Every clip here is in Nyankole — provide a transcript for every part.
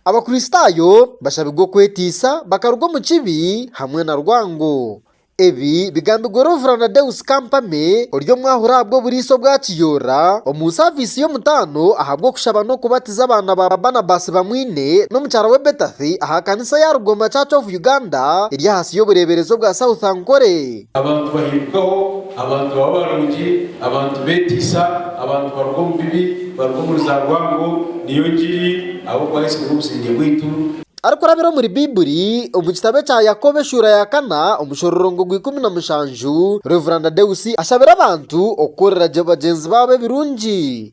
Abakristaayo bashabirwe okwetiisa bakaruga omu kibi hamwe na rwango. Ebi bigambirwe Rev Deus Kampame ori omwahuri ahabw'oburiisa obwa kiyoora omu saviisi y'omutaano ahabw'okushaba n'okubatiza abaana ba Barnabas Bamwine n'omukyara we Bethathy aha kanisa ya Rugoma Church of Uganda eri ahansi y'obureeberezi obwa South Ankole. Abantu bahindukaho, abantu baba barungi, abantu beetiisa, abantu baruga omu bibi, baruga omuri za rwango, niyo ngiri ahabw'okuba Yesu niwe busingye bwaitu. Arikurabira omuri Baibuli, omu kitabo ekya Yakobo eshuura ya kana omushororongo gwa ikumi na mushanju, Rev. Deus ashabira abantu okukorera gye bagyenzi baabo ebirungi.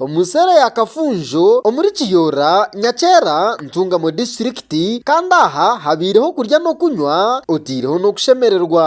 Omu nseera ya Kafunjo omuri Kiyoora, Nyakyera, Ntungamo disiturikiti kandi aha habaireho okurya n'okunywa otaireho n'okushemererwa.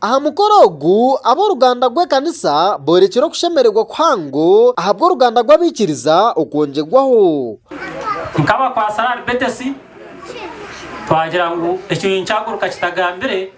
Aha mukoro ogu, ab'oruganda rw'ekanisa boorekire okushemererwa kuhango ahabw'oruganda rw'abaikiriza okwongyerwaho. Nkabakwatsire ahari Betesi, twagira ngu ekyo ninkyaguruka kitagambire.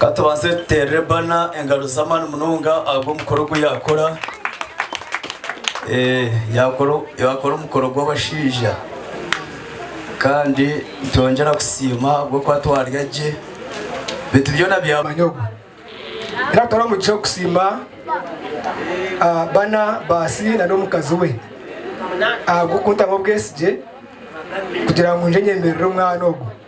Ka tubanze tuteerere Bana engaro z'amaani munonga ahabw'omukoro ogu yaakora. Yaakora omukoro gw'abashaija. Kandi nitwongyera kusiima ahabw'okuba twarya gye. Beitu byona bya. Omwanya ogu. Era nitwara omugisha okusiima Bana, baasi na n'omukazi we ahabw'okuntamu obwesigye kugira ngu ngye nyemerere omwana ogu.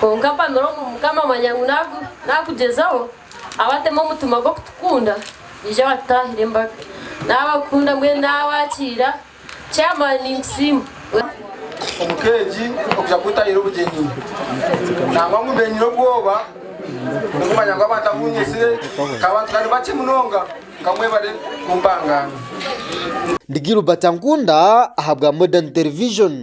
Kwonka mpamira omu Mukama amanya ngu naaku naakugyezaho, abateema omutima gw'okutukunda, naija abatutaahire embaga. Naabakunda mbwenu naabakiira. Chairman ninkusiima. Omu ka egi okugira ngu ntaahiire obugyenyi nangwa ngu mbe nyine obwoba bw'okumanya ngu abantu abu nyetsire ka bantu ka nibakye munonga nka mwebare kumpangaana. Ndi Gilbert Ankunda ahabwa Modern Television.